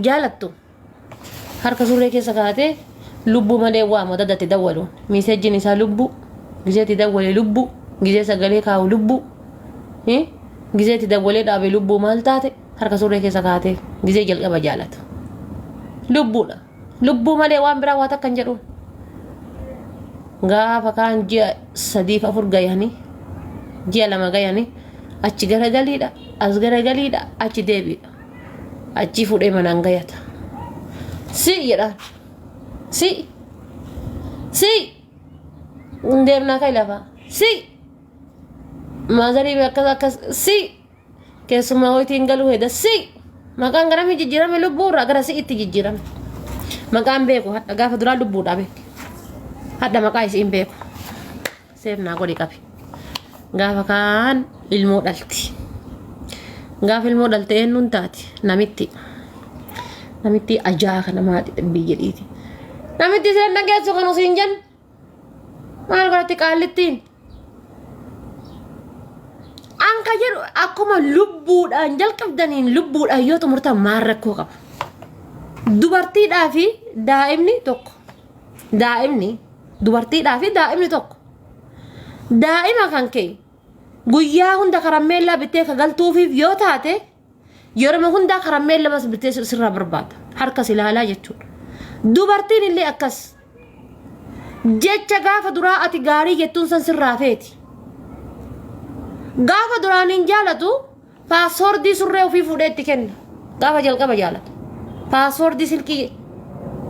jaalattu harka surree keessa kaatee lubbuu malee waa moo dadatti dawwaluun miisejjiin isaa lubbuu gizeetti dawwalee lubbuu gizee sagalee kaa'u lubbuu hi? gizeetti dawwalee dhaabe lubbuu maal taate harka surree keessa kaatee gizee jalqaba jaalatu lubbuudha lubbuu malee waan biraa waa takka hin jedhuun gaafa kaan ji'a sadiif afur gayanii ji'a lama gayanii achi garagaliidha as garagaliidha achi deebiidha achii fuudhee manaan gayata si jedhaan si si hin deemnaa kai lafaa si maazarii akkas akkas si keessumaa wayitiin galuu heda si maqaan garamii jijjiirame lubbuu irraa gara si itti jijjiirame maqaan beeku hadha gaafa duraa lubbuudhaa beeku hadha maqaa isiin beeku Seef naa godhi qabi. Gaafa kaan ilmoo dhalti. Gaafa ilmoo dhalte eenyuun taati? Namitti. Namitti ajaa kana maati dhabbii jedhiiti. Namitti seen dhageessu kan usiin jen. Maal godhatti qaallittiin? An ka jedhu akkuma lubbuudhaan jalqabdaniin lubbuudhaan yoo xumurtan maal rakkoo qaba? Dubartiidhaa fi daa'imni tokko. daa'imni dubartiidhaa fi daa'imni tokko daa'ima kan kee guyyaa hunda karammeellaa bittee ka galtuufiif yoo taate yeroo hundaa karammeella bas bittee sir- sirraa barbaada harka si ilaalaa jechuudha dubartiin illee akkas jecha gaafa duraa ati gaarii jettuun san sirraa feeti gaafa duraan hin jaalatu Paaswoordii surree ofii fuudhee itti kenna. Gaafa jalqaba jaalata. Paaswoordii silkii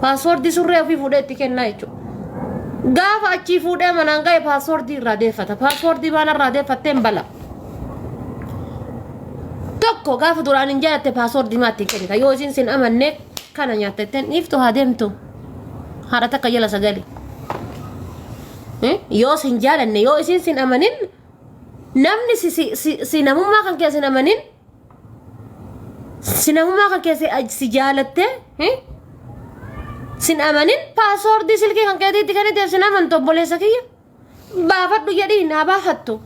paaswoordii surree ofii fuudhee itti kenna jechuudha. Gaafa achii fuudhee manaan ga'e paaswoordii irraa deeffata. Paaswoordii waan irraa deeffatteen bala. Tokko gaafa duraan hin jaalatte paaswoordii maatti hin kennita. Yoo isin sin amanne kana nyaatta ittiin dhiiftu haa deemtu. Haadha takka jala sagalee. Yoo sin jaalanne yoo isin sin amanin Namni si, si, si, si namummaa kan keessa hin amanin si namummaa kan keessa aj- si jaalattee hin sin amanin paaswoordii silkii kan keetiitti kenniteef sin amantu obboleessa kiyya baafadhu jedhiin haa baafattu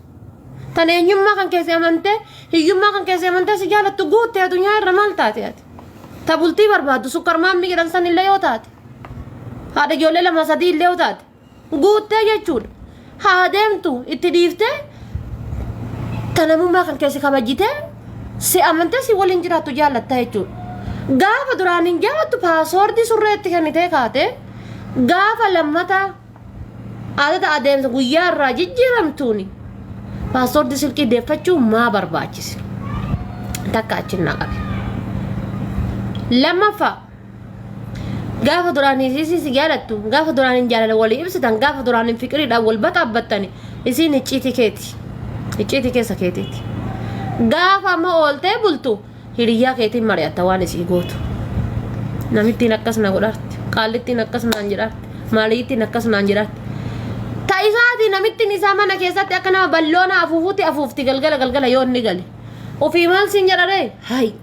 tan eenyummaa kan keessa amantee hiyyummaa kan keessa amantee si jaalattu guutte addunyaa irra maal taate ati ta bultii barbaaddu sukkarmaammi jedhan san illee yoo taate haadha ijoollee lama sadii illee yoo taate guuttee jechuudha. Haa deemtu itti dhiiftee kan namummaa kan keessi kabajjitee si amantee si waliin jiraattu jaallatta jechuudha. Gaafa duraan hin jaalattu paasoordii surree itti kennitee kaatee gaafa lammata adada adeemsa guyyaa irraa jijjiiramtuuni paasoordii silkii deeffachuu maa barbaachise takka achinnaa qabe. Lammaffaa gaafa duraan isiisii si jaalattu gaafa duraan hin jaalala walii ibsitan gaafa duraan hin fiqiriidhaan wal baqaabbattani isiin icciitii keeti icciitii keessa keetiiti gaafa amma ooltee bultu hiriyyaa keetiin mari'atta waan isii gootu namittiin akkas na godhaarti qaallittiin akkas naan jedhaarti maaliittiin akkas naan jedhaarti ta isaati namittiin isaa mana keessatti akka nama balloona afuufuutti afuufti galgala galgala yoo inni gale ofii maal siin jedharee hayi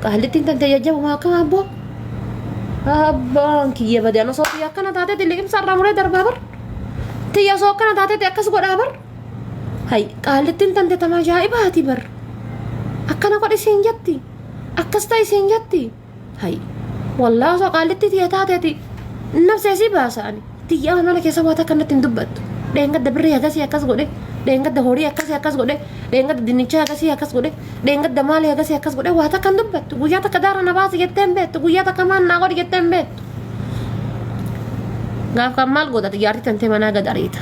Qaallittiin tantee jajjabumaa akka abboo. Abbaan kiyya badaan osoo tiyya akkana taatetti liqimsa irraa muree darbaa bar. Tiyya osoo akkana taatetti akkas godhaa bar. Hay qaallittiin tante tama ajaa'ibaati bar. Akkana godhi siin jetti. Akkas ta'i siin jetti. Hay wallaa osoo qaallittii tiyya taatetti nafsee si baasa ani. Tiyyaa amala keessa waa takka natti hin dubbattu. Dheengadda birrii hagasii akkas godhe, dheengadda horii akkasii akkas godhe, dheengadda dinnichaa hagasii akkas godhe, dheengadda maalii hagasii akkas godhe waa takka hin dubbattu. Guyyaa takka daara na baasi jettee hin beektu, guyyaa takka maal naa godhi jettee hin beektu. Gaaf kan maal godhate jaartii tantee manaa gad ariita.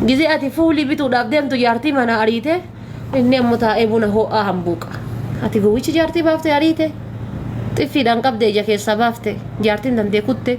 Gizee ati fuulii bituudhaaf deemtu jaartii manaa ariite inni ammoo taa'ee buna ho'aa hambuuqa. Ati gowwichi jaartii baafte ariite xiffiidhaan qabde ija keessaa baafte jaartiin tantee kutte.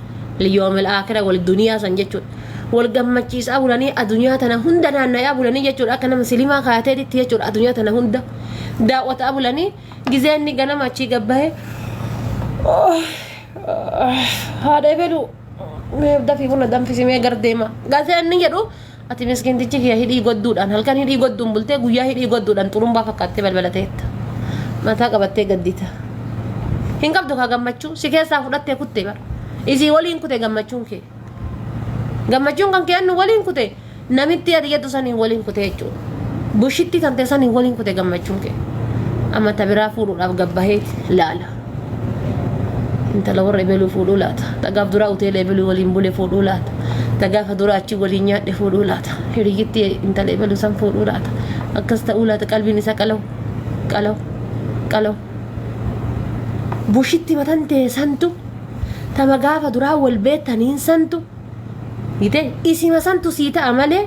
liyoomil aakira wal duniyaa san jechuudha wal gammachiisaa bulanii adunyaa tana hunda naanna'aa bulanii jechuudha akka nama silimaa kaateetitti jechuudha adunyaa tana hunda daawwataa bulanii gizee inni ganama achii gabbahe haadha ebeluu mee dafii buna danfisimee gardeema gazee inni jedhu Ati miskiintichi kiyya hidhii godduudhaan halkan hidhii godduun bultee guyyaa hidhii godduudhaan xurumbaa fakkaattee balbala teetta. Mataa qabattee gaddita. Hin qabdu kaa gammachuu si keessaa fudhattee kutte bara. Isii waliin kute gammachuun kee. Gammachuun kan kee annu waliin kute namitti ati jettu saniin waliin kute jechuudha. Bushitti tante saniin waliin kute gammachuun kee. Amma ta biraa fuudhuudhaaf gabbahee laala. intala warra ebeluu fuudhuu laata tagaaf duraa hoteela ebeluu waliin bule fuudhuu laata tagaafa duraa achi waliin nyaadhe fuudhuu laata hiriyyitti intala ebeluu san fuudhuu laata akkas ta'uu laata qalbiin isaa qalaw qalaw qalaw bushitti matan ta'e santu tama gaafa duraa wal beektaniin santu gite isima santu sii ta'a malee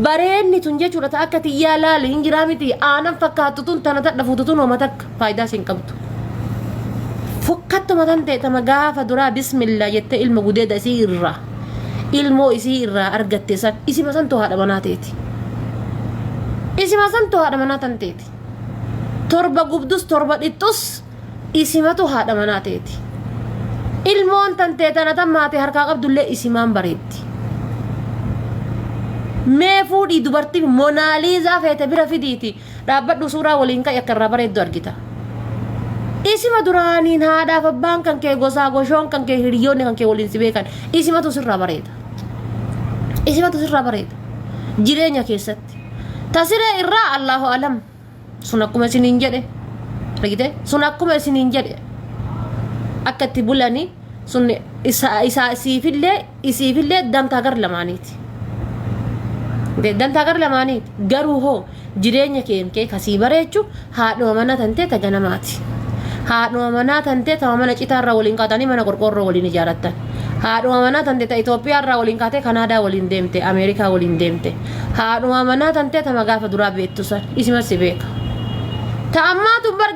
Bareedni tun jechuudha ta akka tiyyaa laali hin jiraa miti aanan fakkaattu tun tana tadha fuutu tun homa takka faayidaa siin qabdu. Fokkattuma tan ta'e tama gaafa duraa bismillaa jette ilma gudeeda isii irraa ilmoo isii irraa argatte san isima santu haadha manaa teeti. Isima santu haadha manaa tan teeti. Torba gubdus torba dhixxus isimatu haadha manaa ta'eeti. Ilmoon tantee tana tan maatii harkaa qabdullee isimaan bareeddi. Mee fuudhii dubartii Monaaliizaa feete bira fidiiti dhaabbadhu suuraa waliin ka'i akka irraa bareeddu argita. Isima duraaniin haadhaaf abbaan kan kee gosaa goshoon kan kee hiriyoonni kan kee waliin si beekan isimatu sirraa bareeda. Isimatu sirraa bareeda. Jireenya keessatti. Tasiree irraa Allaahu alam. sun akkuma isiniin jedhe argite sun akkuma isiniin jedhe akka itti bulani sun isa isa isiifillee isiifillee dantaa gar lamaaniiti Dee, dantaa gar lamaaniiti garuu hoo jireenya keen kee kasii bareechu haadhuma manaa tantee ta ganamaati haadhuma manaa tantee ta mana citaarraa waliin kaatanii mana qorqoorroo waliin ijaarattan haadhuma manaa tantee ta Itoophiyaarraa waliin kaatee Kanaadaa waliin deemte Ameerikaa waliin deemte Haadhuma manaa tantee tama gaafa duraa beektu san isima si beeka. Ta ammaatu hin barga